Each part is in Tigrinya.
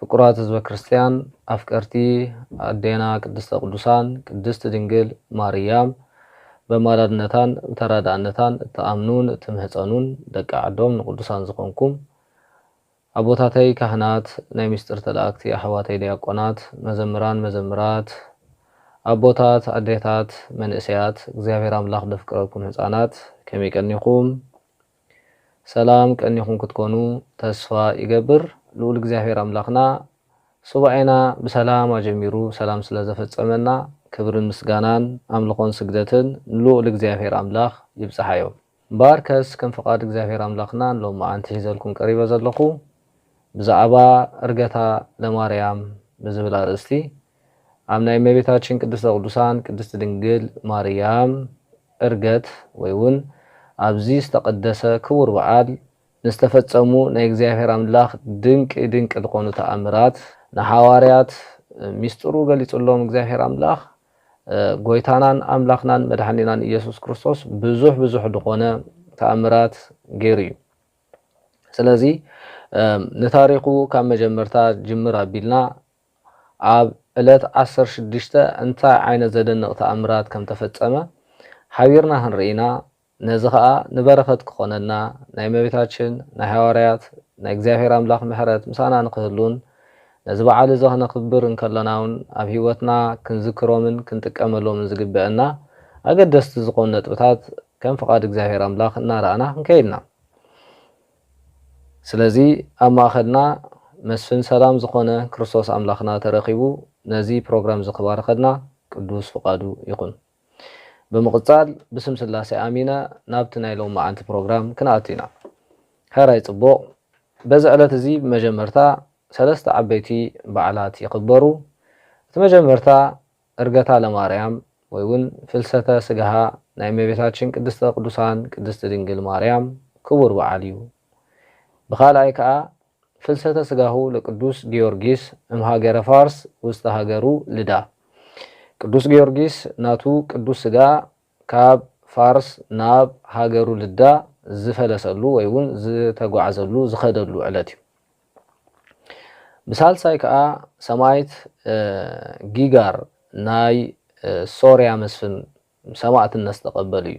ፍቁራት ህዝበ ክርስትያን ኣፍቀርቲ ኣዴና ቅድስተ ቅዱሳን ቅድስት ድንግል ማርያም በማላድነታን ብተራዳእነታን እትኣምኑን እትምህጸኑን ደቂ ዓዶም ንቅዱሳን ዝኾንኩም ኣቦታተይ ካህናት ናይ ምስጢር ተለኣክቲ ኣሕዋተይ ድያቆናት መዘምራን መዘምራት ኣቦታት ኣዴታት መንእሰያት እግዚኣብሔር ኣምላኽ ደፍቅረኩም ህጻናት ከመይ ቀኒኹም ሰላም ቀኒኹም ክትኮኑ ተስፋ ይገብር ልኡል እግዚኣብሔር ኣምላኽና ሱባኤና ብሰላም ኣጀሚሩ ሰላም ስለ ዘፈጸመና ክብርን ምስጋናን ኣምልኾን ስግደትን ንልኡል እግዚኣብሔር ኣምላኽ ይብጽሓዮ እምበኣርከስ ከም ፍቃድ እግዚኣብሔር ኣምላኽና ንሎምዓንቲ ሒዘልኩም ቀሪበ ዘለኹ ብዛዕባ እርገታ ለማርያም ብዝብል ኣርእስቲ ኣብ ናይ እመቤታችን ቅድስተ ቅዱሳን ቅድስት ድንግል ማርያም ዕርገት ወይ ውን ኣብዚ ዝተቐደሰ ክቡር በዓል ንዝተፈጸሙ ናይ እግዚኣብሔር ኣምላኽ ድንቂ ድንቂ ዝኾኑ ተኣምራት ንሓዋርያት ሚስጥሩ ገሊጽሎም እግዚኣብሔር ኣምላኽ ጎይታናን ኣምላኽናን መድሓኒናን ኢየሱስ ክርስቶስ ብዙሕ ብዙሕ ድኾነ ተኣምራት ገይሩ እዩ። ስለዚ ንታሪኹ ካብ መጀመርታ ጅምር ኣቢልና ኣብ ዕለት ዓሰርተ ሽዱሽተ እንታይ ዓይነት ዘደንቕ ተኣምራት ከም ተፈጸመ ሓቢርና ክንርኢ ኢና፣ ነዚ ኸኣ ንበረኸት ክኾነልና፣ ናይ እመቤታችን፣ ናይ ሃዋርያት፣ ናይ እግዚኣብሔር ኣምላኽ ምሕረት ምሳና ንክህሉን ነዚ በዓል እዚ ከነኽብር እንከሎናውን ኣብ ሕይወትና ክንዝክሮምን ክንጥቀመሎምን ዝግበእና ኣገደስቲ ዝኾኑ ነጥብታት ከም ፍቓድ እግዚኣብሔር ኣምላኽ እናረኣና ክንከይድ ኢና። ስለዚ ኣብ ማእኸልና መስፍን ሰላም ዝኾነ ክርስቶስ ኣምላኽና ተረኺቡ ነዚ ፕሮግራም እዚ ክባርኸልና ቅዱስ ፍቓዱ ይኹን። ብምቕጻል ብስም ስላሴ ኣሚነ ናብቲ ናይ ሎምዓንቲ ፕሮግራም ክንኣቱ ኢና። ሕራይ ጽቡቕ በዚ ዕለት እዚ ብመጀመርታ ሰለስተ ዓበይቲ በዓላት ይኽበሩ። እቲ መጀመርታ ዕርገታ ለማርያም ወይ ውን ፍልሰተ ስጋሃ ናይ እመቤታችን ቅድስተ ቅዱሳን ቅድስት ድንግል ማርያም ክቡር በዓል እዩ። ብካልኣይ ከኣ ፍልሰተ ስጋሁ ለቅዱስ ጊዮርጊስ እምሃገረ ፋርስ ውስተ ሃገሩ ልዳ። ቅዱስ ጊዮርጊስ ናቱ ቅዱስ ስጋ ካብ ፋርስ ናብ ሃገሩ ልዳ ዝፈለሰሉ ወይ ውን ዝተጓዕዘሉ፣ ዝኸደሉ፣ ዕለት እዩ። ብሳልሳይ ከኣ ሰማይት ጊጋር ናይ ሶርያ መስፍን ሰማእትነት ዝተቐበሉ እዩ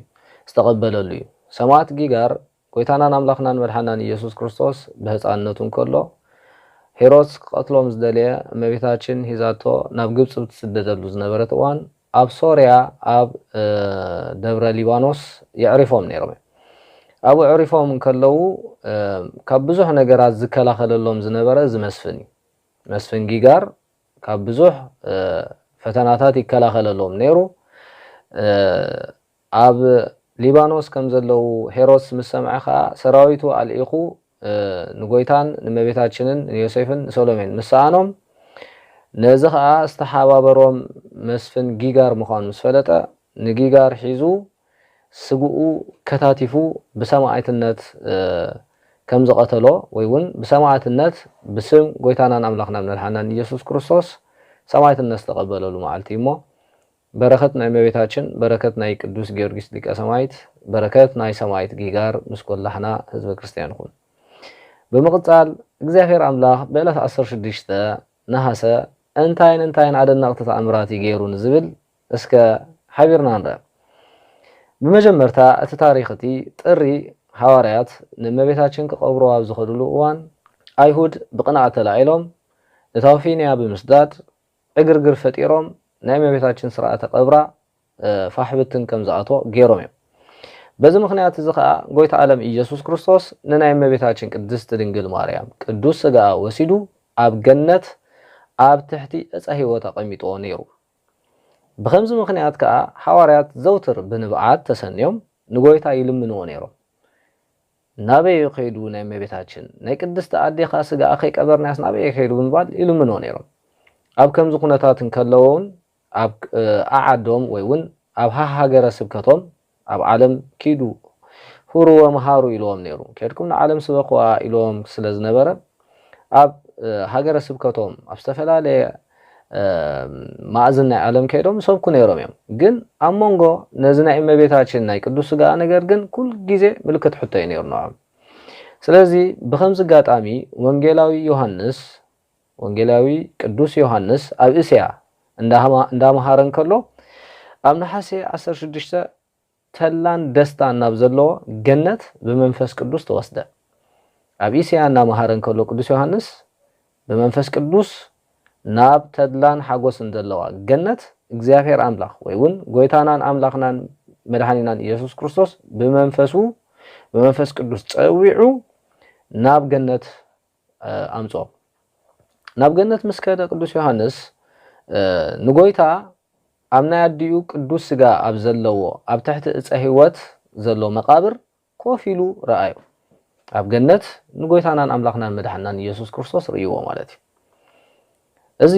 ዝተቐበለሉ እዩ። ሰማእት ጊጋር ጐይታናን ኣምላኽናን መድሓኒናን ኢየሱስ ክርስቶስ ብህጻንነቱ እንከሎ፣ ሄሮድስ ክቐትሎ ምስ ደለየ፣ እመቤታችን ሒዛቶ ናብ ግብጺ ብትስደደሉ ዝነበረት እዋን፣ ኣብ ሶርያ ኣብ ደብረ ሊባኖስ የዕሪፎም ነይሮም እዮም። ኣብኡ ኣዕሪፎም እንከለዉ ካብ ብዙሕ ነገራት ዝከላኸለሎም ዝነበረ እዚ መስፍን እዩ። መስፍን ጊጋር ካብ ብዙሕ ፈተናታት ይከላኸለሎም ነይሩ። ኣብ ሊባኖስ ከም ዘለዉ ሄሮድስ ምስ ሰምዐ ኸኣ፣ ሰራዊቱ ኣልኢኹ ንጐይታን ንእመቤታችንን ንዮሴፍን ንሰሎሜን ምስ ሰኣኖም፣ ነዚ ኸኣ ዝተሓባበሮም መስፍን ጊጋር ምዃኑ ምስ ፈለጠ፣ ንጊጋር ሒዙ ስግኡ ከታቲፉ ብሰማእትነት ከም ዝቐተሎ ወይ ውን ብሰማእትነት ብስም ጐይታናን ኣምላኽናን መድሓኒናን ኢየሱስ ክርስቶስ ሰማእትነት ዝተቐበለሉ መዓልቲ እዩ እሞ፣ በረከት ናይ እመቤታችን በረከት ናይ ቅዱስ ጊዮርጊስ ሊቀ ሰማይት በረከት ናይ ሰማይት ጊጋር ምስ ኮላህና ህዝበ ክርስትያን ይኩን ብምቅጻል እግዚኣብሔር ኣምላክ ብዕለት ዓሰርተ ሽዱሽተ ነሃሰ እንታይን እንታይን ኣደነቅቲ ተኣምራት እዩ ገይሩ ንዝብል እስከ ሓቢርና ንርኣ ብመጀመርታ እቲ ታሪክ እቲ ጥሪ ሃዋርያት ንእመቤታችን ክቀብሩ ኣብ ዝከድሉ እዋን ኣይሁድ ብቅንኣት ተላዒሎም ንታውፊንያ ብምስዳድ ዕግርግር ፈጢሮም ናይ እመቤታችን ስርዓተ ቀብራ ፋሕ ብትን ከም ዝኣትዎ ገይሮም እዮም። በዚ ምኽንያት እዚ ከኣ ጎይታ ኣለም ኢየሱስ ክርስቶስ ንናይ እመቤታችን ቅድስት ድንግል ማርያም ቅዱስ ስጋኣ ወሲዱ ኣብ ገነት ኣብ ትሕቲ ዕፀ ሕይወት ኣቐሚጥዎ ነይሩ። ብኸምዚ ምኽንያት ከኣ ሓዋርያት ዘውትር ብንብዓት ተሰንዮም ንጎይታ ይልምንዎ ነይሮም። ናበይ'ዩ ከይዱ ናይ እመቤታችን፣ ናይ ቅድስቲ ኣዴኻ ስጋኣ ከይቀበርናያስ ናበይ'የ ከይዱ ብምባል ይልምንዎ ነይሮም። ኣብ ከምዚ ኩነታት እንከለዉ'ውን ኣብ ዓዓዶም ወይ'ውን ኣብ ሃሃገረ ስብከቶም ኣብ ዓለም ኪዱ ሁሩ ወምሃሩ ኢልዎም ነይሩ። ኬድኩም ንዓለም ስበኽዋ ኢልዎም ስለ ዝነበረ ኣብ ሃገረ ስብከቶም ኣብ ዝተፈላለየ ማእዝን ናይ ዓለም ከይዶም ይሰብኩ ነይሮም እዮም ግን ኣብ መንጎ ነዚ ናይ እመቤታችን ናይ ቅዱስ ስጋኣ ነገር ግን ኩል ጊዜ ምልክት ሕቶ እዩ ነይሩ ንዖም ስለዚ ብከምዚ ኣጋጣሚ ወንጌላዊ ዮሃንስ ወንጌላዊ ቅዱስ ዮሃንስ ኣብ እስያ እንዳመሃረ እንከሎ ኣብ ነሓሴ 16 ተላን ደስታን ናብ ዘለዎ ገነት ብመንፈስ ቅዱስ ተወስደ። ኣብ እስያ እናመሃረ እንከሎ ቅዱስ ዮሃንስ ብመንፈስ ቅዱስ ናብ ተድላን ሓጎስን ዘለዋ ገነት እግዚኣብሔር ኣምላኽ ወይ እውን ጎይታናን ኣምላኽናን መድኃኒናን ኢየሱስ ክርስቶስ ብመንፈሱ ብመንፈስ ቅዱስ ጸዊዑ ናብ ገነት ኣምጾ። ናብ ገነት ምስ ከደ ቅዱስ ዮሓንስ ንጎይታ ኣብ ናይ ኣዲኡ ቅዱስ ስጋ ኣብ ዘለዎ ኣብ ትሕቲ እጸ ሕይወት ዘሎ መቃብር ኮፍ ኢሉ ረኣዮ። ኣብ ገነት ንጎይታናን ኣምላኽናን መድሓንናን ኢየሱስ ክርስቶስ ርእይዎ ማለት እዩ። እዚ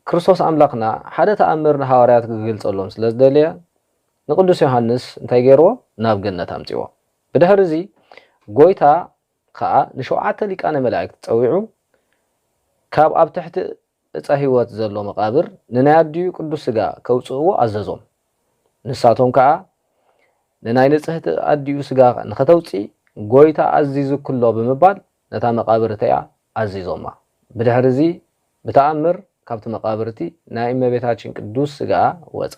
ክርስቶስ ኣምላኽና ሓደ ተኣምር ንሃዋርያት ክግልጸሎም ስለ ዝደለየ ንቅዱስ ዮሓንስ እንታይ ገርዎ ናብ ገነት ኣምጺዎ። ብድሕሪ እዚ ጎይታ ኸኣ ንሸውዓተ ሊቃነ መላእክት ጸዊዑ ካብ ኣብ ትሕቲ እፀ ሕይወት ዘሎ መቓብር ንናይ ኣዲኡ ቅዱስ ሥጋ ከውጽእዎ ኣዘዞም። ንሳቶም ከኣ ንናይ ንጽሕቲ ኣዲኡ ሥጋ ንኸተውጺ ጐይታ ኣዚዙኪ'ሎ ብምባል ነታ መቓብር እቲኣ ኣዚዞማ። ብድሕሪ እዚ ብተኣምር ካብቲ መቓብር እቲ ናይ እመቤታችን ቅዱስ ሥጋኣ ወጸ።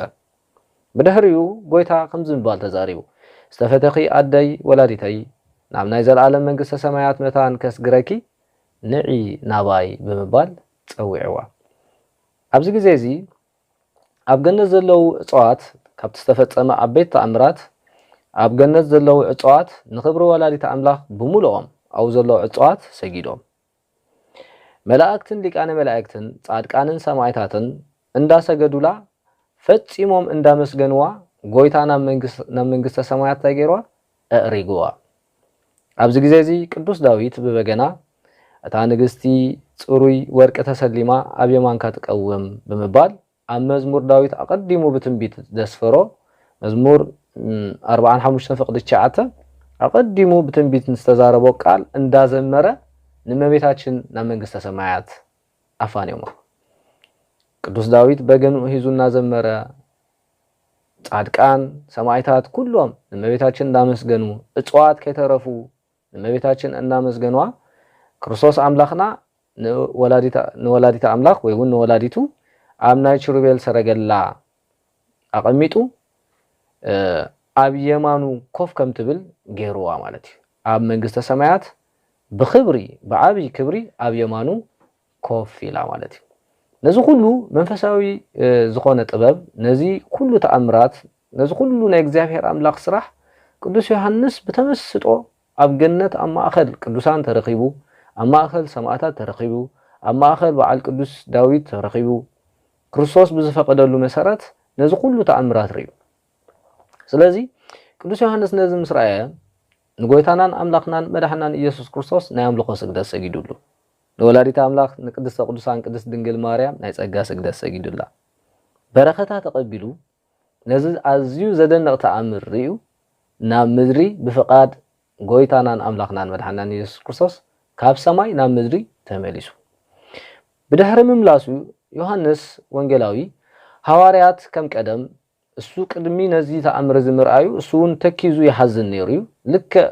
ብድሕሪኡ ጐይታ ከምዚ ብምባል ተዛሪቡ፣ ዝተፈተኺ ኣደይ ወላዲተይ፣ ናብ ናይ ዘለኣለም መንግስተ ሰማያት መታን ከስግረኪ፣ ንዒ ናባይ ብምባል ጸዊዕዋ። ኣብዚ ግዜ እዚ ኣብ ገነት ዘለዉ ዕጸዋት፣ ካብቲ ዝተፈጸመ ዓበይቲ ተኣምራት፣ ኣብ ገነት ዘለዉ ዕጸዋት ንኽብሪ ወላዲተ ኣምላኽ ብምሉኦም ኣብኡ ዘለዉ ዕጸዋት ሰጊዶም። መላእክትን ሊቃነ መላእክትን ጻድቃንን ሰማእታትን እንዳሰገዱላ ፈጺሞም እንዳመስገንዋ ጎይታ ናብ ናብ መንግስተ ሰማያት እንታይ ገይርዋ እዕሪግዋ ኣብዚ ግዜ እዚ ቅዱስ ዳዊት ብበገና እታ ንግስቲ ጽሩይ ወርቂ ተሰሊማ ኣብ የማንካ ትቀውም ብምባል ኣብ መዝሙር ዳዊት ኣቐዲሙ ብትንቢት ዘስፈሮ፣ መዝሙር ኣርብዓን ሓሙሽተን ፍቕዲ ትሽዓተ፣ ኣቐዲሙ ብትንቢት ዝተዛረቦ ቃል እንዳዘመረ ንእመቤታችን ናብ መንግስተ ሰማያት ኣፋንዮማ። ቅዱስ ዳዊት በገንኡ ሒዙ እናዘመረ፣ ጻድቃን፣ ሰማይታት ኩሎም ንእመቤታችን እንዳመስገኑ፣ እጽዋት ከይተረፉ ንእመቤታችን እናመስገንዋ ክርስቶስ ኣምላኽና ንወላዲተ ኣምላኽ ወይውን ንወላዲቱ ኣብ ናይ ችሩቤል ሰረገላ ኣቐሚጡ ኣብ የማኑ ኮፍ ከም ትብል ገይርዋ ማለት እዩ። ኣብ መንግስተ ሰማያት ብኽብሪ ብዓብይ ክብሪ ኣብ የማኑ ኮፍ ኢላ ማለት እዩ። ነዚ ኩሉ መንፈሳዊ ዝኾነ ጥበብ ነዚ ኩሉ ተኣምራት ነዚ ኩሉ ናይ እግዚኣብሔር ኣምላኽ ስራሕ ቅዱስ ዮሐንስ ብተመስጦ ኣብ ገነት ኣብ ማእኸል ቅዱሳን ተረኺቡ ኣብ ማእኸል ሰማእታት ተረኺቡ ኣብ ማእኸል በዓል ቅዱስ ዳዊት ተረኺቡ ክርስቶስ ብዝፈቀደሉ መሰረት ነዚ ኩሉ ተኣምራት ርእዩ። ስለዚ ቅዱስ ዮሐንስ ነዚ ምስ ረኣየ ንጎይታናን ኣምላኽናን መድሓናን ኢየሱስ ክርስቶስ ናይ ኣምልኾ ስግደት ሰጊዱሉ። ንወላዲት ኣምላኽ ንቅድስተ ቅዱሳን ቅድስት ድንግል ማርያም ናይ ጸጋ ስግደት ሰጊዱላ በረኸታ ተቐቢሉ ነዚ ኣዝዩ ዘደንቕ ተኣምር ርእዩ ናብ ምድሪ ብፍቓድ ጎይታናን ኣምላኽናን መድሓኒናን ኢየሱስ ክርስቶስ ካብ ሰማይ ናብ ምድሪ ተመሊሱ ብድሕሪ ምምላሱ ዮሃንስ ወንጌላዊ ሃዋርያት ከም ቀደም እሱ ቅድሚ ነዚ ተኣምር እዚ ምርኣዩ እሱውን ተኪዙ ይሓዝን ነይሩ እዩ። ልክዕ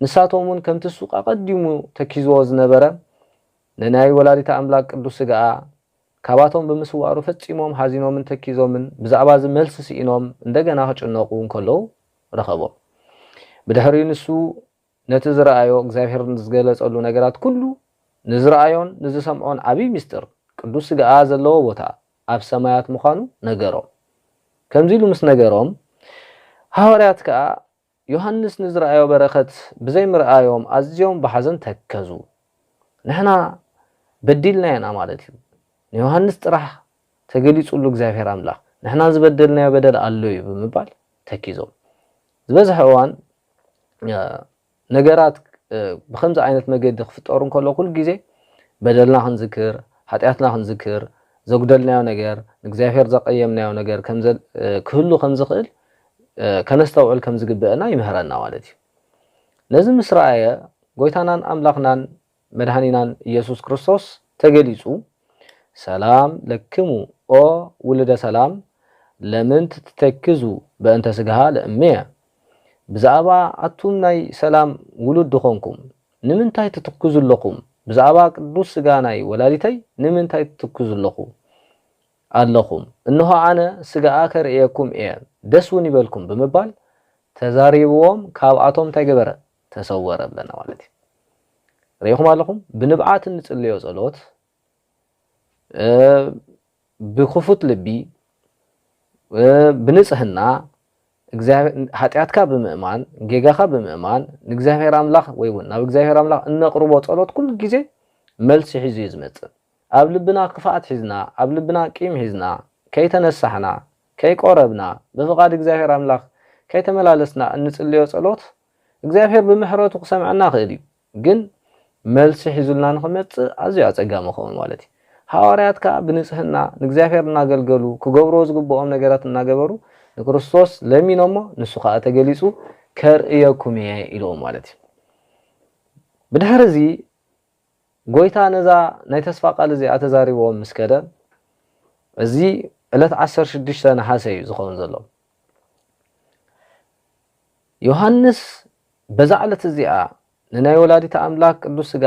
ንሳቶምውን ከምቲ እሱ ኣቐዲሙ ተኪዝዎ ዝነበረ ንናይ ወላዲተ ኣምላክ ቅዱስ ስጋኣ ካባቶም ብምስዋሩ ፈጺሞም ሓዚኖምን ተኪዞምን ብዛዕባ እዚ መልሲ ስኢኖም እንደገና ክጭነቑ እንከለዉ ረኸቦም። ብድሕሪ ንሱ ነቲ ዝረኣዮ እግዚኣብሔር ንዝገለጸሉ ነገራት ኩሉ ንዝረኣዮን ንዝሰምዖን ዓቢይ ምስጢር ቅዱስ ሥጋኣ ዘለዎ ቦታ ኣብ ሰማያት ምዃኑ ነገሮም። ከምዚ ኢሉ ምስ ነገሮም ሃዋርያት ከኣ ዮሐንስ ንዝረኣዮ በረከት ብዘይ ምርኣዮም ኣዝዮም ብሓዘን ተከዙ። ንሕና በዲልና ኢና ማለት እዩ ንዮሐንስ ጥራሕ ተገሊጹሉ እግዚኣብሔር ኣምላኽ ንሕና ዝበደልናዮ በደል ኣሎ እዩ ብምባል ተኪዞም ዝበዝሐ እዋን ነገራት ብከምዚ ዓይነት መገዲ ክፍጠሩ እንከሎ ኩሉ ግዜ በደልና ክንዝክር ሓጢኣትና ክንዝክር ዘጉደልናዮ ነገር ንእግዚኣብሔር ዘቀየምናዮ ነገር ክህሉ ከም ዝኽእል ከነስተውዕል ከም ዝግበእና ይምህረና ማለት እዩ። ነዚ ምስ ረኣየ ጎይታናን ኣምላኽናን መድኃኒናን ኢየሱስ ክርስቶስ ተገሊጹ ሰላም ለክሙ ኦ ውሉደ ሰላም ለምንት ትተክዙ በእንተ ሥግሃ ለእምየ ብዛዕባ ኣቱም ናይ ሰላም ውሉድ ዝኾንኩም ንምንታይ ትትክዙ ኣሎኹም ብዛዕባ ቅዱስ ሥጋ ናይ ወላዲተይ ንምንታይ ትትክዙ ኣሎኹ ኣለኹም እንሆ ኣነ ሥጋኣ ከርእየኩም እየ ደስ ውን ይበልኩም ብምባል ተዛሪብዎም ካብኣቶም እንታይ ገበረ ተሰወረ ኣለና ማለት እዩ ርኢኹም ኣለኹም ብንብዓት እንጽልዮ ጸሎት ብክፉት ልቢ ብንጽህና ሃጢኣትካ ብምእማን ጌጋኻ ብምእማን ንእግዚኣብሔር ኣምላኽ ወይ እውን ናብ እግዚኣብሔር ኣምላኽ እነቕርቦ ጸሎት ኩሉ ግዜ መልሲ ሒዙ እዩ ዝመጽእ ኣብ ልብና ክፍኣት ሒዝና ኣብ ልብና ቂም ሒዝና ከይተነሳሕና ከይቆረብና ብፍቓድ እግዚኣብሔር ኣምላኽ ከይተመላለስና እንጽልዮ ጸሎት እግዚኣብሔር ብምሕረቱ ክሰምዐና ይኽእል እዩ ግን መልሲ ሒዙልና ንኽመጽእ ኣዝዩ ኣጸጋሚ ይኸውን ማለት እዩ። ሃዋርያት ከኣ ብንጽህና ንእግዚኣብሔር እናገልገሉ ክገብርዎ ዝግብኦም ነገራት እናገበሩ ንክርስቶስ ለሚኖሞ ንሱ ከኣ ተገሊጹ ከርእየኩም እየ ኢልዎም ማለት እዩ። ብድሕሪ እዚ ጎይታ ነዛ ናይ ተስፋ ቃል እዚኣ ተዛሪብዎም ምስ ከደ እዚ ዕለት ዓሰርተ ሽዱሽተ ነሓሰ እዩ ዝኸውን ዘሎ። ዮሃንስ በዛ ዕለት እዚኣ ንናይ ወላዲተ ኣምላክ ቅዱስ ስጋ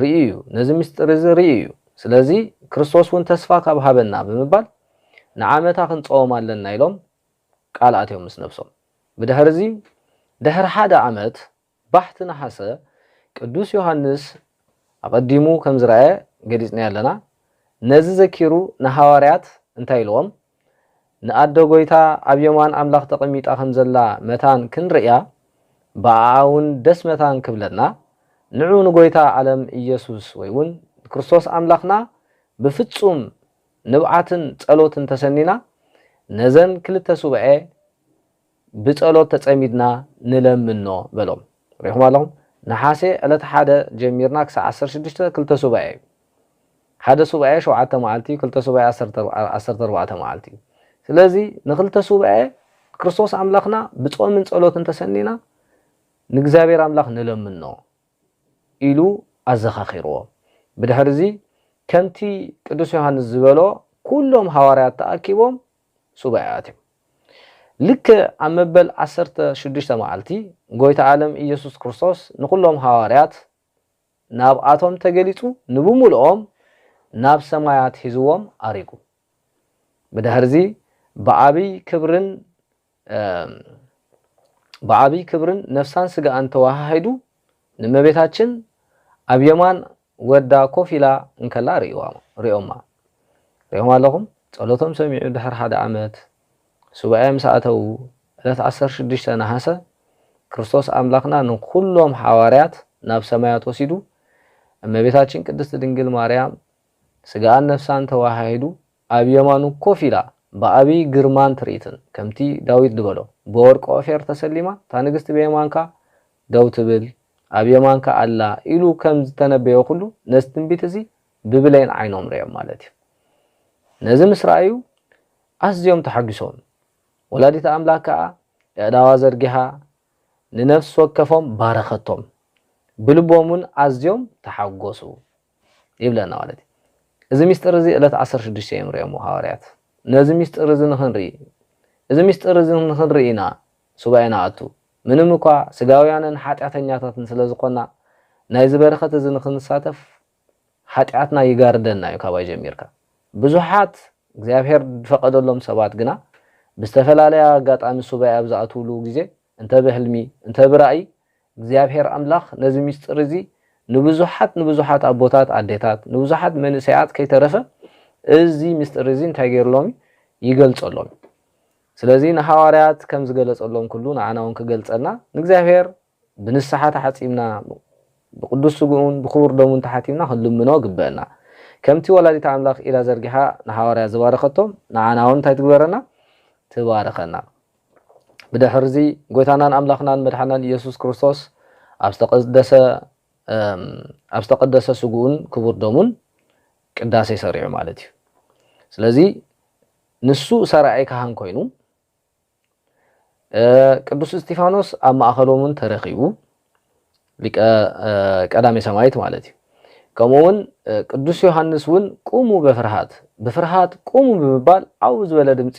ርእዩ እዩ፣ ነዚ ምስጢር እዚ ርእዩ እዩ፣ ስለዚ ክርስቶስ እውን ተስፋ ካብ ሃበና ብምባል ንዓመታ ክንጸወም ኣለና ኢሎም ቃል ኣትዮም ምስ ነብሶም። ብድሕሪ እዚ ድሕሪ ሓደ ዓመት ባሕቲ ነሓሰ ቅዱስ ዮሃንስ ኣቐዲሙ ከም ዝረኣየ ገሊጽናዮ ኣለና፣ ነዚ ዘኪሩ ንሃዋርያት እንታይ ኢልዎም? ንኣደ ጐይታ ኣብ የማን ኣምላኽ ተቐሚጣ ከም ዘላ መታን ክንርእያ፣ ብኣኣውን ደስ መታን ክብለና፣ ንዑ ንጐይታ ዓለም ኢየሱስ ወይውን ንክርስቶስ ኣምላኽና ብፍጹም ንብዓትን ጸሎትን ተሰኒና ነዘን ክልተ ሱባኤ፣ ብጸሎት ተጸሚድና ንለምኖ በሎም። ርኢኹም ኣለኹም? ነሓሴ ዕለት ሓደ ጀሚርና ክሳዕ ዓሰርተ ሽዱሽተ ክልተ ሱባኤ እዩ። ሓደ ሱባኤ ሸውዓተ መዓልቲ እዩ፣ ክልተ ሱባኤ ዓሰርተ ዓሰርተ ኣርባዕተ መዓልቲ እዩ። ስለዚ ንኽልተ ሱባኤ ክርስቶስ ኣምላኽና ብጾምን ጸሎትን ተሰኒና ንእግዚኣብሔር ኣምላኽ ንለምኖ ኢሉ ኣዘኻኺርዎ። ብድሕርዚ ከምቲ ቅዱስ ዮሃንስ ዝበሎ ኩሎም ሃዋርያት ተኣኪቦም ሱባኤ ኣትዮም። ልክዕ ኣብ መበል ዓሰርተ ሽዱሽተ መዓልቲ፣ ጐይታ ዓለም ኢየሱስ ክርስቶስ ንዅሎም ሃዋርያት ናብኣቶም ተገሊጹ ንብምሉኦም ናብ ሰማያት ሒዝዎም ኣሪጉ። ብድሕርዚ ብዓቢይ ክብርን ብዓቢይ ክብርን ነፍሳን ስጋኣን ተወሃሂዱ ንእመቤታችን ኣብ የማን ወዳ ኮፍ ኢላ እንከላ ርእዮማ። ርኢኹም ኣለኹም? ጸሎቶም ሰሚዑ ድሕሪ ሓደ ዓመት፣ ሱባኤ ምስ ኣተዉ፣ ዕለት ዓሰርተ ሽዱሽተ ነሓሰ፣ ክርስቶስ ኣምላኽና ንኹሎም ሓዋርያት ናብ ሰማያት ወሲዱ፣ እመቤታችን ቅድስት ድንግል ማርያም ስጋኣን ነፍሳን ተወሃሂዱ ኣብ የማኑ ኮፍ ኢላ ብዓቢይ ግርማን ትርኢትን ከምቲ ዳዊት ድበሎ ብወርቂ ኦፌር ተሰሊማ እታ ንግስቲ ብየማንካ ደው ትብል ኣብ የማንካ ኣላ ኢሉ ከም ዝተነበዮ ኩሉ ነዚ ትንቢት እዚ ብብሌን ዓይኖም ርእዮም ማለት እዩ ነዚ ምስ ረኣዩ ኣዝዮም ተሓጒሶም ወላዲተ ኣምላክ ከኣ የእዳዋ ዘርጊሓ ንነፍሲ ወከፎም ባረኸቶም ብልቦም ውን ኣዝዮም ተሓጐሱ። ይብለና ማለት እዩ። እዚ ምስጢር እዚ እለት ዓሰርተ ሽዱሽተ እዮም ርእዮምዎ ሃዋርያት። ነዚ ምስጢር እዚ ንክንርኢ እዚ ምስጢር እዚ ንክንርኢ ኢና ሱባኤ ንኣቱ። ምንም እኳ ስጋውያንን ሓጢኣተኛታትን ስለ ዝኮና ናይዚ በረከት እዚ ንክንሳተፍ ሓጢኣትና ይጋርደና እዩ ካባይ ጀሚርካ። ብዙሓት እግዚኣብሔር ዝፈቀደሎም ሰባት ግና ብዝተፈላለያ ኣጋጣሚ ሱባኤ ኣብ ዝኣትውሉ ግዜ እንተ ብሕልሚ እንተ ብራእይ እግዚኣብሔር ኣምላኽ ነዚ ምስጢር እዚ ንብዙሓት ንብዙሓት ኣቦታት ኣዴታት ንብዙሓት መንእሰያት ከይተረፈ እዚ ምስጢር እዚ እንታይ ገይርሎም እዩ ይገልጸሎም እዩ ስለዚ ንሃዋርያት ከም ዝገለጸሎም ኩሉ ንዓና እውን ክገልጸልና ንእግዚኣብሔር ብንስሓ ተሓጺብና ብቅዱስ ስግኡን ብክቡር ደሙን ተሓቲምና ክንልምኖ ግበአና ከምቲ ወላዲት ኣምላኽ ኢዳ ዘርጊሓ ንሃዋርያ ዝባረኸቶም ንዓና እውን እንታይ ትግበረና ትባርኸና ብድሕርዚ ጎይታናን ኣምላኽናን መድሓናን ኢየሱስ ክርስቶስ ኣብ ዝተቐደሰ ኣብ ዝተቐደሰ ስግኡን ክቡር ደሙን ቅዳሴ ሰሪዑ ማለት እዩ። ስለዚ ንሱ ሰራዒ ካህን ኮይኑ ቅዱስ እስጢፋኖስ ኣብ ማእኸሎምን ተረኺቡ ሊቀ ቀዳሜ ሰማይት ማለት እዩ። ከምኡ እውን ቅዱስ ዮሃንስ እውን ቁሙ በፍርሃት ብፍርሃት ቁሙ ብምባል ዓው ዝበለ ድምፂ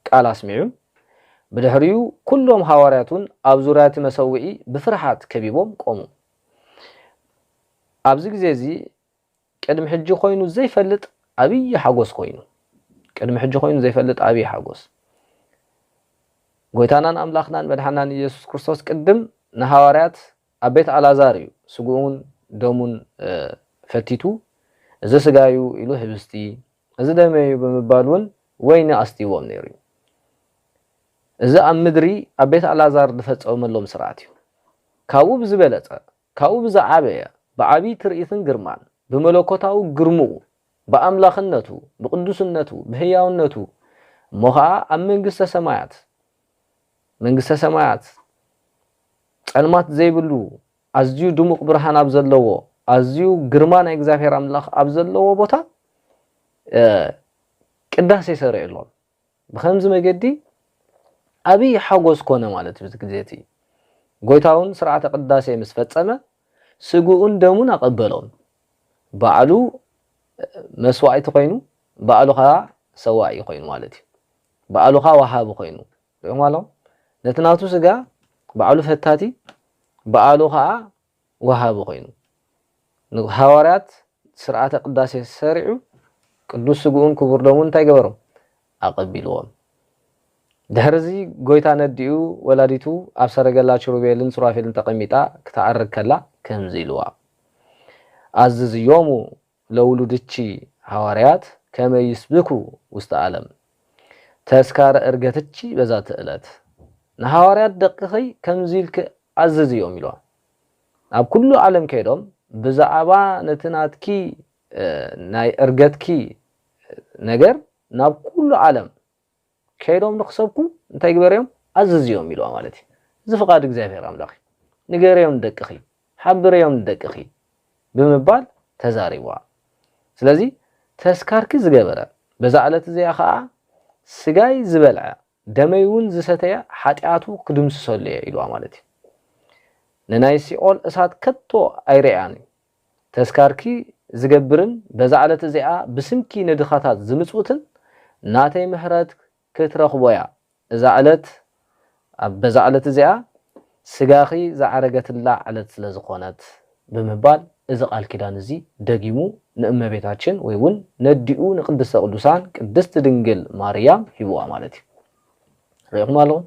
ቃል ኣስሚዑ። ብድሕሪኡ ኵሎም ሃዋርያት እውን ኣብ ዙርያ እቲ መሰውኢ ብፍርሃት ከቢቦም ቈሙ። ኣብዚ ግዜ እዚ ቅድሚ ሕጂ ዀይኑ ዘይፈልጥ ዓብዪ ሓጐስ ዀይኑ። ቅድሚ ሕጂ ዀይኑ ዘይፈልጥ ዓብዪ ሓጐስ! ጐይታናን ኣምላኽናን መድሓኒናን ኢየሱስ ክርስቶስ ቅድም ንሃዋርያት ኣብ ቤት ኣልኣዛር እዩ ስግኡን ደሙን ፈቲቱ፣ እዚ ስጋይ እዩ ኢሉ ኅብስቲ እዚ ደመይ እዩ ብምባል እውን ወይኒ ኣስትይዎም ነይሩ እዩ። እዚ ኣብ ምድሪ ኣብ ቤት ኣልኣዛር ዝፈጸወመሎም ስርዓት እዩ። ካብኡ ብዝበለጸ፣ ካብኡ ብዝዓበየ፣ ብዓቢይ ትርኢትን ግርማን፣ ብመለኮታዊ ግርምኡ፣ ብኣምላኽነቱ፣ ብቕዱስነቱ፣ ብሕያውነቱ፣ እሞ ኸኣ ኣብ መንግስተ ሰማያት፣ መንግስተ ሰማያት፣ ጸልማት ዘይብሉ ኣዝዩ ድሙቕ ብርሃን ኣብ ዘለዎ፣ ኣዝዩ ግርማ ናይ እግዚኣብሔር ኣምላኽ ኣብ ዘለዎ ቦታ ቅዳሴ ሰሪዕሎም። ብኸምዚ መገዲ ኣብይ ሓጎስ ኮነ ማለት እዩ። እዚ ግዜ እቲ ጎይታ እውን ስርዓተ ቅዳሴ ምስ ፈጸመ ስግኡን ደሙን ኣቐበሎም። ባዕሉ መስዋዕቲ ኮይኑ፣ ባዕሉ ከዓ ሰዋኢ ኮይኑ ማለት እዩ። ባዕሉ ከዓ ወሃቢ ኮይኑ፣ ዮማሎ ነቲ ናቱ ስጋ ባዕሉ ፈታቲ ብኣሉ ከኣ ወሃቢ ኮይኑ ንሃዋርያት ስርዓተ ቅዳሴ ሰሪዑ ቅዱስ ስግኡን ክቡር ደሙን እንታይ ገበሮም ኣቐቢልዎም። ድሕርዚ ጎይታ ነዲኡ ወላዲቱ ኣብ ሰረገላ ችሩቤልን ሱራፌልን ተቐሚጣ ክትኣርግ ከላ ከምዚ ኢልዋ ኣዝዝዮሙ ለውሉድቺ ሐዋርያት ከመ ይስብኩ ውስተ ዓለም፣ ተስካረ ዕርገትቺ በዛቲ ዕለት፣ ንሐዋርያት ደቅኺ ከምዚ ኢልኪ ኣዝዝዮም ኢሎም፣ ናብ ኩሉ ዓለም ከይዶም ብዛዕባ ነቲ ናትኪ ናይ ዕርገትኪ ነገር ናብ ኩሉ ዓለም ከይዶም ንክሰብኩ እንታይ ግበርዮም ኣዝዝዮም ኢልዋ ማለት እዩ እዚ ፍቃድ እግዚኣብሔር ኣምላክ እዩ ንገርዮም ንደቅኪ ሓብርዮም ንደቅኪ ብምባል ተዛሪብዋ ስለዚ ተስካርኪ ዝገበረ በዛ ዕለት እዚኣ ከዓ ስጋይ ዝበልዐ ደመይ እውን ዝሰተየ ሓጢኣቱ ክድምስሰሉ እየ ኢልዋ ማለት እዩ ንናይ ሲኦል እሳት ከቶ ኣይርእያን እዩ ተዝካርኪ ዝገብርን በዛ ዕለት እዚኣ ብስምኪ ንድኻታት ዝምጽውትን ናተይ ምሕረት ክትረኽቦያ እዛ ዕለት ኣብ በዛ ዕለት እዚኣ ስጋኺ ዝዓረገትላ ዕለት ስለ ዝኾነት ብምባል እዚ ቃል ኪዳን እዚ ደጊሙ ንእመቤታችን ወይ ውን ነዲኡ ንቅድስተ ቅዱሳን ቅድስት ድንግል ማርያም ሂቡዋ ማለት እዩ ርኢኹም ኣለኹም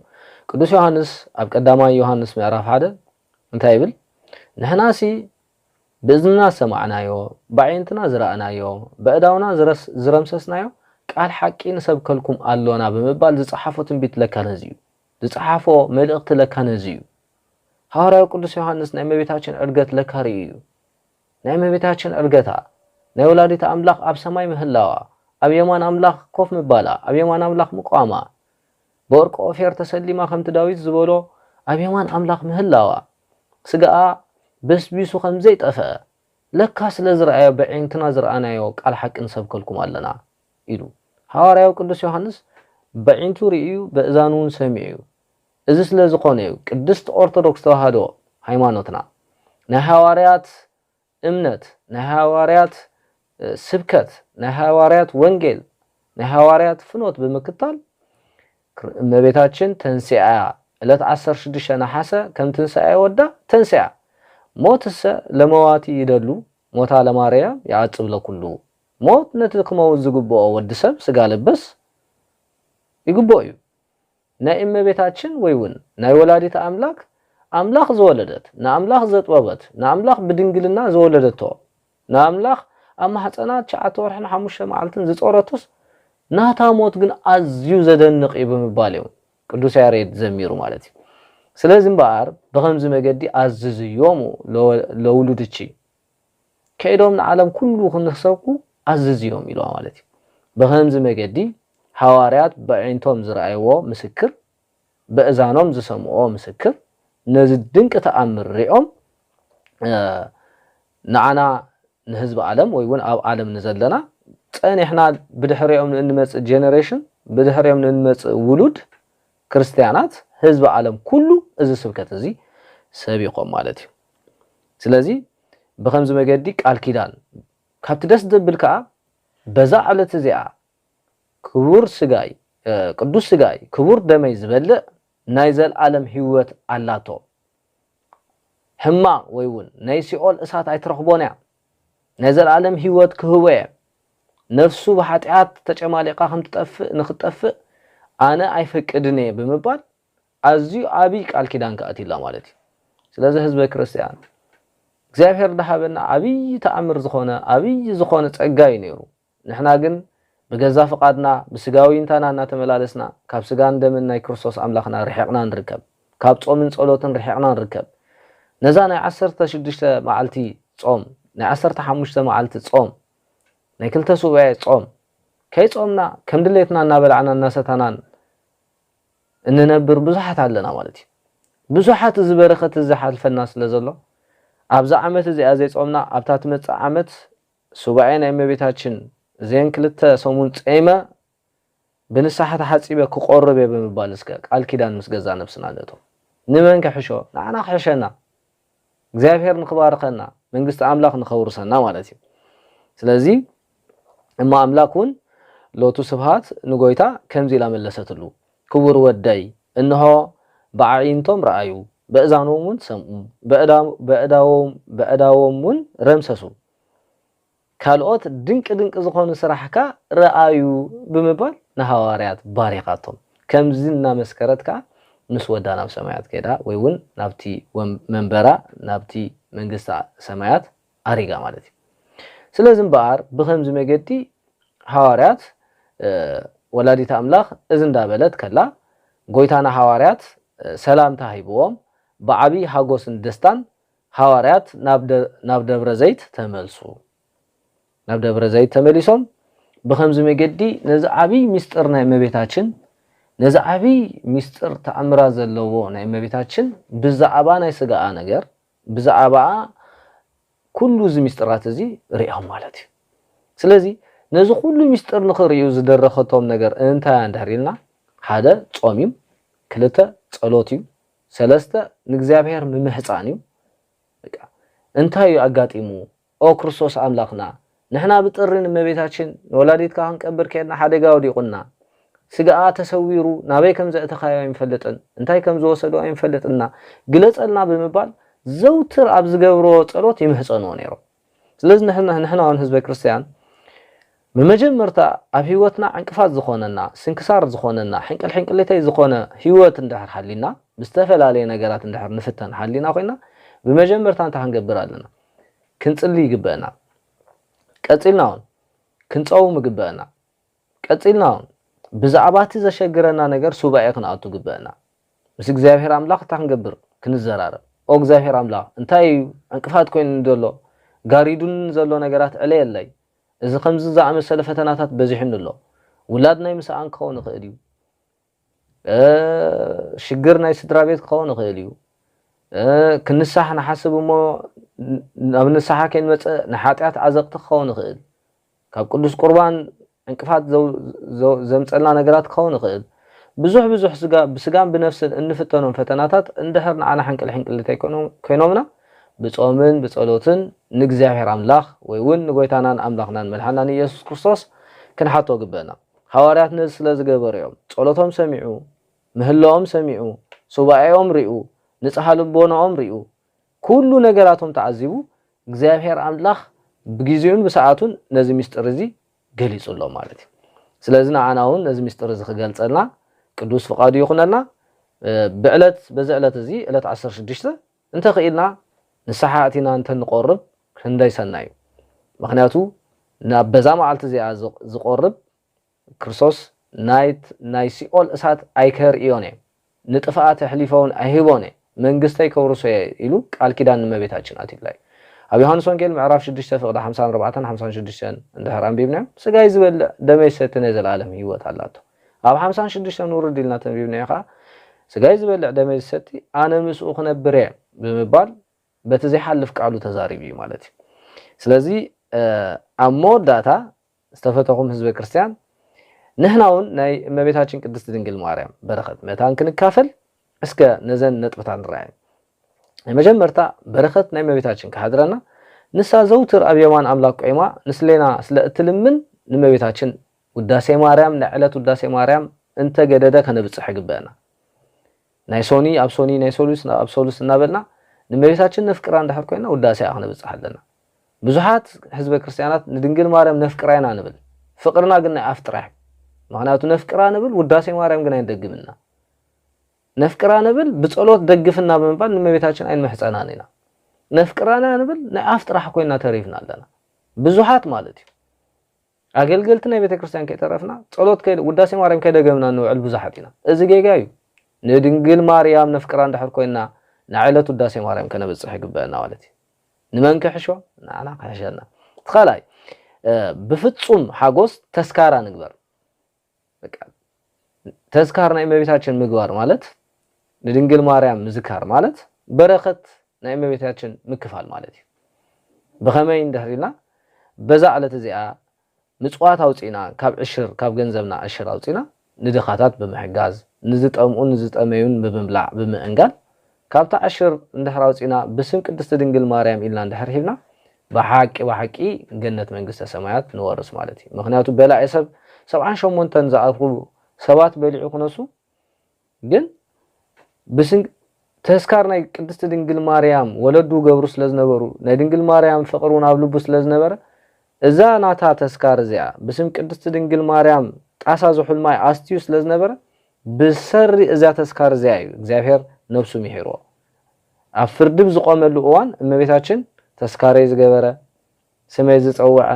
ቅዱስ ዮሃንስ ኣብ ቀዳማይ ዮሃንስ ምዕራፍ ሓደ እንታይ ይብል? ንሕናሲ ብእዝንና ዝሰማዕናዮ፣ በዓይንትና ዝረኣናዮ፣ በእዳውና ዝረምሰስናዮ ቃል ሓቂ ንሰብከልኩም ኣሎና ብምባል ዝጸሓፎ ትንቢት ለካ ነዚ እዩ። ዝጸሓፎ መልእኽቲ ለካ ነዚ እዩ። ሃዋርያዊ ቅዱስ ዮሃንስ ናይ እመቤታችን ዕርገት ለካ ርእዩ እዩ። ናይ እመቤታችን ዕርገታ፣ ናይ ወላዲተ ኣምላኽ ኣብ ሰማይ ምህላዋ፣ ኣብ የማን ኣምላኽ ኮፍ ምባላ፣ ኣብ የማን ኣምላኽ ምቋማ፣ ብወርቂ ኦፌር ተሰሊማ ከምቲ ዳዊት ዝበሎ ኣብ የማን ኣምላኽ ምህላዋ፣ ስጋኣ በስቢሱ ከም ዘይጠፍኣ ለካ ስለ ዝረኣዮ በዒንትና ዝረኣናዮ ቃል ሓቂ ንሰብከልኩም ኣለና ኢሉ። ሃዋርያዊ ቅዱስ ዮሃንስ በዒንቱ ርእዩ በእዛኑውን ሰሚዑ'ዩ። እዚ ስለ ዝኾነ'ዩ ቅድስት ኦርቶዶክስ ተዋህዶ ሃይማኖትና ናይ ሃዋርያት እምነት፣ ናይ ሃዋርያት ስብከት፣ ናይ ሃዋርያት ወንጌል፣ ናይ ሃዋርያት ፍኖት ብምክታል እመቤታችን ተንሥኣ ዕለት ዓሰርተ ሽዱሽተ ነሓሰ ከም ትንሣኤ ወዳ ተንሥኣ ሞትሰ ለመዋቲ ይደሉ ሞታ ለማርያም ይዓጽብ ለኩሉ ሞት ነቲ ክመውት ዝግብኦ ወዲ ሰብ ሥጋ ለበስ ይግብኦ እዩ። ናይ እመቤታችን ወይ ውን ናይ ወላዲተ ኣምላክ ኣምላክ ዝወለደት ንኣምላክ ዘጥበበት ንኣምላክ ብድንግልና ዝወለደቶ ንኣምላክ ኣብ ማህጸና ትሽዓተ ወርሕን ሓሙሽተ መዓልትን ዝጾረቱስ ናታ ሞት ግን ኣዝዩ ዘደንቅ እዩ ብምባል እዩ ቅዱስ ያሬድ ዘሚሩ ማለት እዩ ስለዚ እምበኣር ብከምዚ መገዲ ኣዝዝዮሙ ለውሉድኪ ከይዶም ንዓለም ኩሉ ክንክሰብኩ ኣዝዝዮም ኢልዋ ማለት እዩ። ብኸምዚ መገዲ ሃዋርያት በዒንቶም ዝረኣይዎ ምስክር በእዛኖም ዝሰምዕዎ ምስክር ነዚ ድንቂ ተኣምር ሪኦም ንዓና ንህዝቢ ዓለም ወይ እውን ኣብ ዓለም ንዘለና ጸኒሕና ብድሕሪኦም ንእንመጽእ ጀነሬሽን ብድሕሪኦም ንእንመጽእ ውሉድ ክርስትያናት ህዝቢ ዓለም ኩሉ እዚ ስብከት እዚ ሰቢኾም ማለት እዩ። ስለዚ ብኸምዚ መገዲ ቃል ኪዳን ካብቲ ደስ ዘብል ከኣ በዛ ዕለት እዚኣ ክቡር ስጋይ ቅዱስ ስጋይ ክቡር ደመይ ዝበልዕ ናይ ዘልኣለም ህይወት ኣላቶ ሕማቕ ወይ እውን ናይ ሲኦል እሳት ኣይትረኽቦን እያ ናይ ዘልኣለም ህይወት ክህቦ እየ ነፍሱ ብሓጢኣት ተጨማሊቓ ከምትጠፍእ ንክትጠፍእ ኣነ ኣይፈቅድን እየ ብምባል ኣዝዩ ዓብይ ቃል ኪዳን ክኣ ኣትዩላ ማለት እዩ። ስለዚ ህዝበ ክርስትያን እግዚኣብሄር ድሃበና ዓብይ ተኣምር ዝኾነ ዓብይ ዝኾነ ጸጋ እዩ ኔሩ። ንሕና ግን ብገዛ ፍቓድና ብስጋዊ ይንታና እናተመላለስና ካብ ስጋን ደምን ናይ ክርስቶስ ኣምላኽና ርሒቕና ንርከብ። ካብ ጾምን ጸሎትን ርሒቕና ንርከብ። ነዛ ናይ ዓሰርተ ሽዱሽተ መዓልቲ ጾም ናይ ዓሰርተ ሓሙሽተ መዓልቲ ጾም ናይ ክልተ ሱባኤ ጾም ከይጾምና ከም ድሌትና እናበላዕና እናሰታናን እንነብር ብዙሓት ኣለና ማለት እዩ። ብዙሓት እዚ በረኸት እዚ ዝሓልፈና ስለ ዘሎ ኣብዛ ዓመት እዚኣ ዘይጾምና ኣብታ ትመጽእ ዓመት ሱባኤ ናይ እመቤታችን እዘን ክልተ ሰሙን ጼመ ብንስሓ ተሓጺበ ክቆርብ እየ ብምባል እስከ ቃል ኪዳን ምስ ገዛእ ነብስና ንእቶ። ንመን ክሕሾ ንዓና ክሕሸና እግዚኣብሔር ንክባርከና መንግስቲ ኣምላክ ንከውርሰና ማለት እዩ ስለዚ እሞ ኣምላክ ውን ሎቱ ስብሃት ንጎይታ ከምዚ ኢላ መለሰትሉ ክቡር ወደይ እንሆ ብዓዒንቶም ረኣዩ በእዛኖም ውን ሰምኡ በእዳዎም ውን ረምሰሱ ካልኦት ድንቂ ድንቂ ዝኾኑ ስራሕካ ርኣዩ ብምባል ንሃዋርያት ባሪኻቶም። ከምዚ እናመስከረት ከኣ ምስ ወዳ ናብ ሰማያት ከይዳ ወይ ውን ናብቲ መንበራ ናብቲ መንግስተ ሰማያት ኣሪጋ ማለት እዩ። ስለዚ እምበኣር ብኸምዚ መገዲ ሃዋርያት ወላዲተ ኣምላኽ እዚ እንዳበለት ከላ ጎይታ ንሃዋርያት ሰላምታ ሂብዎም ብዓቢ ሃጎስን ደስታን ሃዋርያት ናብ ደብረ ዘይት ተመልሱ። ናብ ደብረ ዘይት ተመሊሶም ብኸምዚ መገዲ ነዚ ዓቢይ ምስጢር ናይ እመቤታችን ነዚ ዓቢይ ምስጢር ተኣምራት ዘለዎ ናይ እመቤታችን ብዛዕባ ናይ ስጋኣ ነገር ብዛዕባኣ ኩሉ እዚ ምስጢራት እዚ ርእዮም ማለት እዩ። ስለዚ ነዚ ኩሉ ምስጢር ንኽርእዩ ዝደረኸቶም ነገር እንታይ እንድሕር ኢልና ሓደ ጾም እዩ፣ ክልተ ጸሎት እዩ፣ ሰለስተ ንእግዚኣብሔር ምምሕጻን እዩ በቃ እንታይ እዩ ኣጋጢሙ ኦ ክርስቶስ ኣምላኽና ንሕና ብጥሪ ንእመቤታችን ንወላዲትካ ክንቀብር ኬድና ሓደጋ ወዲቁና ስጋኣ ተሰዊሩ ናበይ ከም ዘእተኻዮ ኣይንፈልጥን እንታይ ከም ዝወሰዶ ኣይንፈልጥና ግለጸልና ብምባል ዘውትር ኣብ ዝገብርዎ ጸሎት ይምሕጸንዎ ነይሮም ስለዚ ንሕና ንሕና ውን ህዝበ ክርስትያን ብመጀመርታ ኣብ ህይወትና ዕንቅፋት ዝኾነና ስንክሳር ዝኾነና ሕንቅል ሕንቅሊተይ ዝኾነ ህይወት እንድሕር ሃልዩና ብዝተፈላለየ ነገራት እንድሕር ንፍተን ሃሊና ኮይና ብመጀመርታ እንታይ ክንገብር ኣለና ክንጽሊ ይግበእና ቀጺልና ውን ክንጸውም ይግበእና ቀጺልና ውን ብዛዕባ እቲ ዘሸግረና ነገር ሱባኤ ክንኣቱ ግበእና ምስ እግዚኣብሄር ኣምላኽ እንታይ ክንገብር ክንዘራረብ ኦ እግዚኣብሄር ኣምላኽ እንታይ ኢዩ ዕንቅፋት ኮይኑኒ ዘሎ ጋሪዱኒ ንዘሎ ነገራት ዕለየለይ እዚ ከምዚ ዝኣመሰለ ፈተናታት በዚሑኒ ኣሎ ውላድ ናይ ምስኣን ክኸውን ይኽእል ኢዩ ሽግር ናይ ስድራቤት ክኸውን ይኽእል እዩ። ክንሳሕ ንሓስብ እሞ ናብ ንስሓ ከይንመጽእ ንሓጢኣት ዓዘቕቲ ክኸውን ይኽእል። ካብ ቅዱስ ቁርባን ዕንቅፋት ዘምጸልና ነገራት ክኸውን ይኽእል። ብዙሕ ብዙሕ ብስጋን ብነፍስን እንፍተኖም ፈተናታት እንድሕር ንዓና ሕንቅልሕንቅል እንተይኮይኖምና ብጾምን ብጸሎትን ንእግዚኣብሔር ኣምላኽ ወይ እውን ንጎይታናን ኣምላኽናን መድሓናን ኢየሱስ ክርስቶስ ክንሓቶ ግበእና። ሃዋርያት ነዚ ስለ ዝገበሩ እዮም። ጸሎቶም ሰሚዑ፣ ምህለኦም ሰሚዑ፣ ሱባኤኦም ሪኡ፣ ንጽሃ ልቦናኦም ሪኡ፣ ኩሉ ነገራቶም ተዓዚቡ፣ እግዚኣብሄር ኣምላኽ ብጊዜኡን ብሰዓቱን ነዚ ምስጢር እዚ ገሊጹሎም ማለት እዩ። ስለዚ ንዓና ውን ነዚ ምስጢር እዚ ክገልጸልና ቅዱስ ፍቃዱ ይኹነልና። ብዕለት በዚ ዕለት እዚ ዕለት ዓሰርተ ሽዱሽተ እንተ ኽኢልና ንስሓ ኣቲና እንተ ንቆርብ ክንደይ ሰናይ እዩ ምኽንያቱ ናብ በዛ መዓልቲ እዚኣ ዝቆርብ ክርስቶስ ናይት ናይ ሲኦል እሳት ኣይከርእዮን እየ ንጥፍኣት ኣሕሊፈውን ኣይህቦን እየ መንግስተይ ከውርሶ እየ ኢሉ ቃል ኪዳን ንመቤታችን ኣትዩላ እዩ ኣብ ዮሃንስ ወንጌል ምዕራፍ ሽዱሽተ ፍቅዲ ሓምሳን ኣርባዕተን ሓምሳን ሽዱሽተን እንድሕር ኣንቢብናዮ ስጋይ ዝበልዕ ደመይ ዝሰቲ ናይ ዘለኣለም ህይወት ኣላቶ ኣብ ሓምሳን ሽዱሽተን ውርድ ኢልና ተንቢብናዮ ከኣ፣ ስጋይ ዝበልዕ ደመይ ዝሰቲ ኣነ ምስኡ ክነብር እየ ብምባል በቲ ዘይሓልፍ ቃሉ ተዛሪቡ እዩ ማለት እዩ። ስለዚ ኣብ መወዳእታ ዝተፈተኹም ህዝበ ክርስቲያን ንሕና እውን ናይ እመቤታችን ቅድስት ድንግል ማርያም በረኸት መታን ክንካፈል እስከ ነዘን ነጥብታት ንረኣየን። ናይ መጀመርታ በረኸት ናይ እመቤታችን ክሓድረና ንሳ ዘውትር ኣብ የማን ኣምላክ ቆይማ ንስሌና ስለ እትልምን ንእመቤታችን ውዳሴ ማርያም ናይ ዕለት ውዳሴ ማርያም እንተ ገደደ ከነብጽሕ ይግበእና። ናይ ሶኒ ኣብ ሶኒ ናይ ሰሉስ ኣብ ሰሉስ እናበልና ንእመቤታችን ነፍቅራ እንድሕር ኮይና ውዳሴኣ ክነብጽሕ ኣለና። ብዙሓት ሕዝበ ክርስቲያናት ንድንግል ማርያም ነፍቅራ ኢና ንብል ፍቅርና ግን ናይ ኣፍ ጥራሕ እዩ ምክንያቱ ነፍቅራ ንብል ውዳሴ ማርያም ግን ኣይንደግምን ኢና። ነፍቅራ ንብል ብጸሎት ደግፍና ብምባል ንእመቤታችን ኣይንምሕጸናን ኢና። ነፍቅራ ኢና ንብል ናይ ኣፍ ጥራሕ ኮይና ተሪፍና ኣለና ብዙሓት ማለት እዩ። ኣገልገልቲ ናይ ቤተክርስትያን ከይተረፍና ጸሎት ከይ ውዳሴ ማርያም ከይደገምና እንውዕል ብዙሓት ኢና። እዚ ጌጋ እዩ። ንድንግል ማርያም ነፍቅራ እንድሕር ኮይንና ናይ ዕለት ውዳሴ ማርያም ከነብጽሕ ይግበእና ማለት እዩ። ንመን ክሕሾ? ንዓና ክሕሸና። እቲ ካልኣይ ብፍጹም ሓጎስ ተስካራ ንግበር። በቃ ተዝካር ናይ እመቤታችን ምግባር ማለት ንድንግል ማርያም ምዝካር ማለት በረኸት ናይ እመቤታችን ምክፋል ማለት እዩ። ብኸመይ እንድሕር ኢልና በዛ ዕለት እዚኣ ምጽዋት ኣውጺእና ካብ ዕሽር ካብ ገንዘብና ዕሽር ኣውጺእና ንድኻታት ብምሕጋዝ ንዝጠምኡን ንዝጠመዩን ብምብላዕ ብምእንጋድ ካብታ ዕሽር እንድሕር ኣውጺእና ብስም ቅድስቲ ድንግል ማርያም ኢልና እንድሕር ሂብና ብሓቂ ብሓቂ ገነት መንግስተ ሰማያት ንወርስ ማለት እዩ ምኽንያቱ በላዒ ሰብ ሰብዓን ሸሞንተን ዝኣኽሉ ሰባት በሊዑ ክነሱ ግን ብስም ተስካር ናይ ቅድስቲ ድንግል ማርያም ወለዱ ገብሩ ስለ ዝነበሩ ናይ ድንግል ማርያም ፍቕሪ እውን ኣብ ልቡ ስለ ዝነበረ እዛ ናታ ተስካር እዚኣ ብስም ቅድስቲ ድንግል ማርያም ጣሳ ዝሑል ማይ ኣስትዩ ስለ ዝነበረ ብሰሪ እዛ ተስካር እዚኣ እዩ እግዚኣብሔር ነብሱ ሚሒርዎ። ኣብ ፍርዲ ብዝቆመሉ እዋን እመቤታችን ተስካረይ ዝገበረ፣ ስመይ ዝጸውዐ፣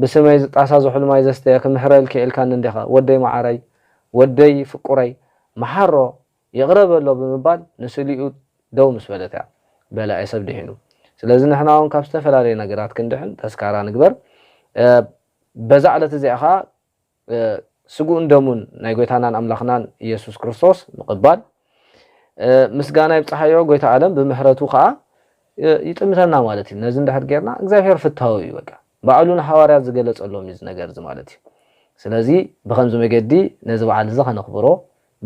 ብስመይ ዝጣሳ ዝሑል ማይ ዘስተየ ክምሕረልኪ ኢልካኒ እንዲኻ ወደይ መዓረይ፣ ወደይ ፍቁረይ መሓሮ ይቕረ በሎ ብምባል ንስሊኡ ደው ምስ በለት እያ በላዒ ሰብ ድሒኑ። ስለዚ ንሕና እውን ካብ ዝተፈላለዩ ነገራት ክንድሕን ተስካራ ንግበር። በዛ ዕለት እዚኣ ከኣ ስግኡን ደሙን ናይ ጎይታናን ኣምላኽናን ኢየሱስ ክርስቶስ ምቕባል ምስጋና ይብጽሓዮ ጎይታ ኣለም ብምሕረቱ ከኣ ይጥምተና ማለት እዩ ነዚ እንድሕር ጌርና እግዚኣብሔር ፍታዊ እዩ በቃ ባዕሉ ንሓዋርያት ዝገለጸሎም እዩ ነገር እዚ ማለት እዩ ስለዚ ብከምዚ መገዲ ነዚ በዓል እዚ ከነኽብሮ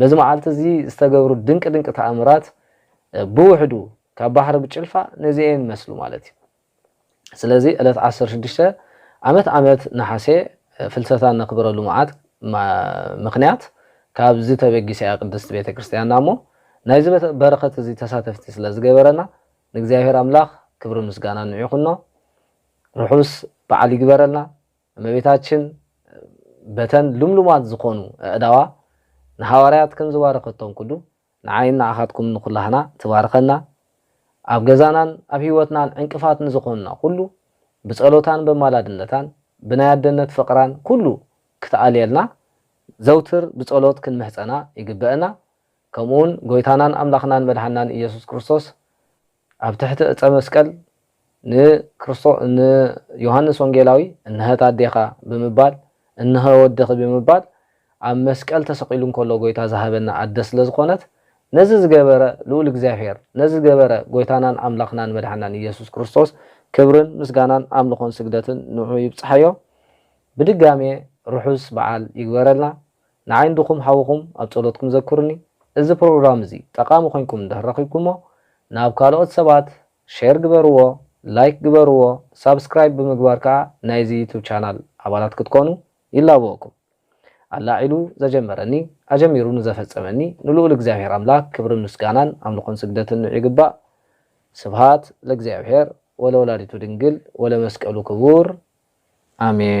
በዚ መዓልቲ እዚ ዝተገብሩ ድንቂ ድንቂ ተኣምራት ብውሕዱ ካብ ባሕሪ ብጭልፋ ነዚኤን ይመስሉ ማለት እዩ ስለዚ ዕለት ዓሰርተ ሽዱሽተ ዓመት ዓመት ነሓሴ ፍልሰታ እነኽብረሉ መዓት ምኽንያት ካብዚ ተበጊሳ እያ ቅድስት ቤተ ክርስቲያንና እሞ ናይዚ በረኸት እዚ ተሳተፍቲ ስለ ዝገበረና ንእግዚኣብሔር ኣምላኽ ክብርን ምስጋናን ንዑ ይኹኖ ርሑስ በዓል ይግበረልና እመቤታችን በተን ልምሉማት ዝኾኑ ኣእዳዋ ንሃዋርያት ከም ዝባረኸቶም ኩሉ ንዓይን ንዓኻትኩምን ንኹላህና ትባርኸና፣ ኣብ ገዛናን ኣብ ሕይወትናን ዕንቅፋት ንዝኾኑና ኩሉ ብጸሎታን በማላድነታን ብናይ ኣደነት ፍቕራን ኩሉ ክትኣልየልና ዘውትር ብጸሎት ክንምሕጸና ይግበእና፣ ከምኡውን ጎይታናን ኣምላኽናን መድሓንናን ኢየሱስ ክርስቶስ ኣብ ትሕቲ ዕፀ መስቀል ንክርስቶ ንዮሃንስ ወንጌላዊ እንሀት ኣዴኻ ብምባል እንሀ ወድኺ ብምባል ኣብ መስቀል ተሰቒሉ እንከሎ ጎይታ ዝሃበና ኣደ ስለ ዝኾነት ነዚ ዝገበረ ልኡል እግዚኣብሔር ነዚ ዝገበረ ጎይታናን ኣምላኽናን መድሓናን ኢየሱስ ክርስቶስ ክብርን ምስጋናን ኣምልኾን ስግደትን ንዑ ይብፅሓዮ ብድጋሜ ርሑስ በዓል ይግበረልና። ንዓይ እንድኩም ሓውኩም ኣብ ጸሎትኩም ዘኩሩኒ እዚ ፕሮግራም እዚ ጠቃሚ ኮንኩም እንድህር ረኪብኩሞ ናብ ካልኦት ሰባት ሸር ግበርዎ ላይክ ግበርዎ ሳብስክራይብ ብምግባር ከኣ ናይዚ ዩቱብ ቻናል ኣባላት ክትኮኑ ይላበወኩም ኣላዒሉ ዘጀመረኒ ኣጀሚሩ ንዘፈጸመኒ ንሉኡል እግዚኣብሔር ኣምላክ ክብርን ምስጋናን ኣምልኮን ስግደትን ንዑ ይግባእ ስብሃት ለእግዚኣብሔር ወለወላዲቱ ድንግል ወለመስቀሉ ክቡር ኣሜን።